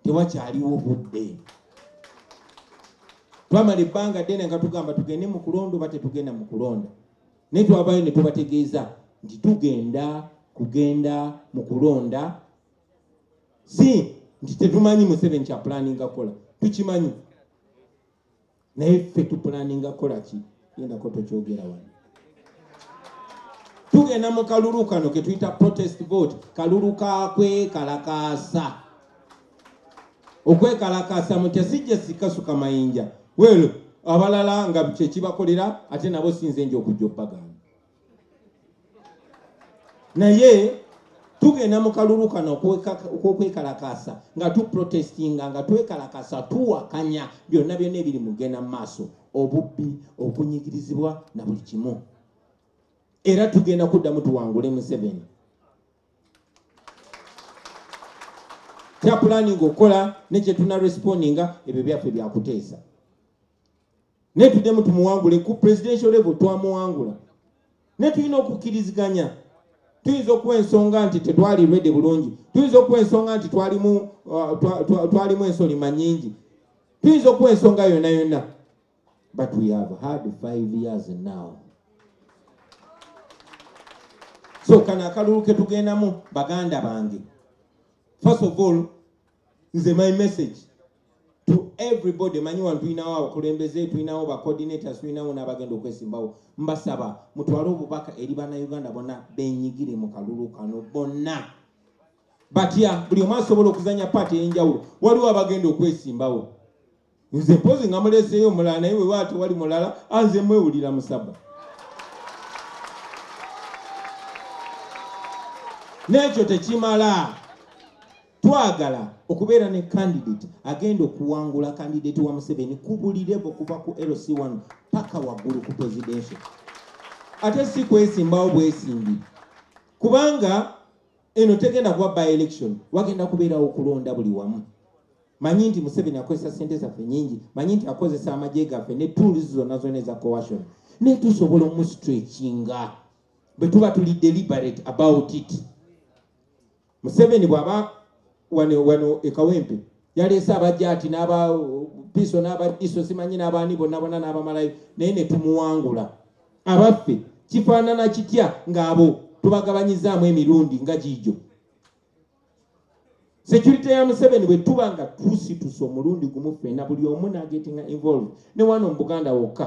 tewakyaliwo budde twamala ebbanga ddene nga tugamba tugende mu kulonda oba tetugenda mu kulonda naye twabayo ne tubategeeza nti tugenda kugenda mu kulonda si nti tetumanyi museveni kyapulaninga kukola tukimanyi naye ffe tupulaninga kolaki gendako tokyogera wano tugenda mu kalulu kano ketuyita protest vote kalulu kakwekalakaasa okwekalakaasa mutya sijja sikasuka mayinja welo abalala nga kyekibakolera ate nabo sinze nja okujja obbagana naye tugenda mu kalulu kano okokwekalakaasa nga tuprotestinga nga twekalakasa tuwakanya byonna byonna ebiri mugenda mu maaso obubbi okunyigirizibwa na buli kimu era tugenda kuddamu tuwangule museveni kyapulaninga okukola nekyetunarespondinga ebyo byaffe byakuteesa naye tuddemu tumuwangule ku presidential level twamuwangula naye tulina okukkiriziganya tuyinza okuwa ensonga nti tetwali rwede bulungi tuyinza okuwa ensonga nti twalimu uh, twalimu ensolima nyingi tuyinza okuwa ensonga yonna yonna but we have had five years now so kano akalulu ketugendamu baganda bange first of all nze my message to everybody manyi wano tulinawo abakulembeze tulinawo bacoordinators tulinawo n'abagenda okwesimbawo mbasaba mutwale obubaka eri banauganda bona benyigire mu kalulu kano bonna batya buli omu asobola okuzanya paati ey'enjawulo waliwo abagenda okwesimbawo nze mpozi nga muleseeyo omulala naye wewaate wali mulala anze mwewulira musaba n'ekyo tekimala Twagala okubeera ne candidate agenda okuwangula candidate wa Museveni ku buli level kuva ku LC1 paka waggulu ku presidential. Ate si kwesimbawo bwesimbi kubanga eno tegenda kuba by election, wagenda kubeerawo okulonda buli wamu. Manyi nti Museveni akozesa sente zaffe nyingi, manyi nti akozesa amagye gaffe ne tools zonna zonna eza coercion, naye tusobola omu stretchinga bwe tuba tuli deliberate about it. museveni bwaba wano wano ekawempe yaleese abajati n'aba piso n'abadiso simanyi n'abaani bonna bona n'abamalayo naye ne tumuwangula abaffe kifaanana kitya ng'abo tubagabanyizaamu emirundi nga giijo security ya museveni bwe tuba nga tusituse omulundi gumu ffena buli omu nagetinga involve ne wano mu buganda wokka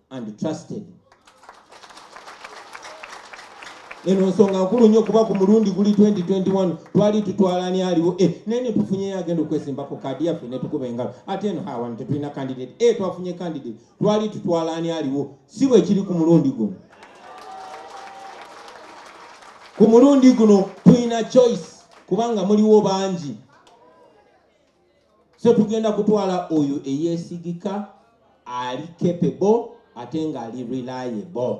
and trusted eno nsonga nkulu nnyo kuba ku mulundi guli 2021 twali tutwalani aliwo e eh, naye netufunyeyo agenda okwesimbako kaadi yaffe netukuba engalo ate eno hawano tetulina candidate e twafunye candidate twali tutwalani aliwo si bwekiri ku mulundi guno ku mulundi guno tulina choice kubanga muliwo bangi so tugenda kutwala oyo eyesigika ali capable ate nga ali reliable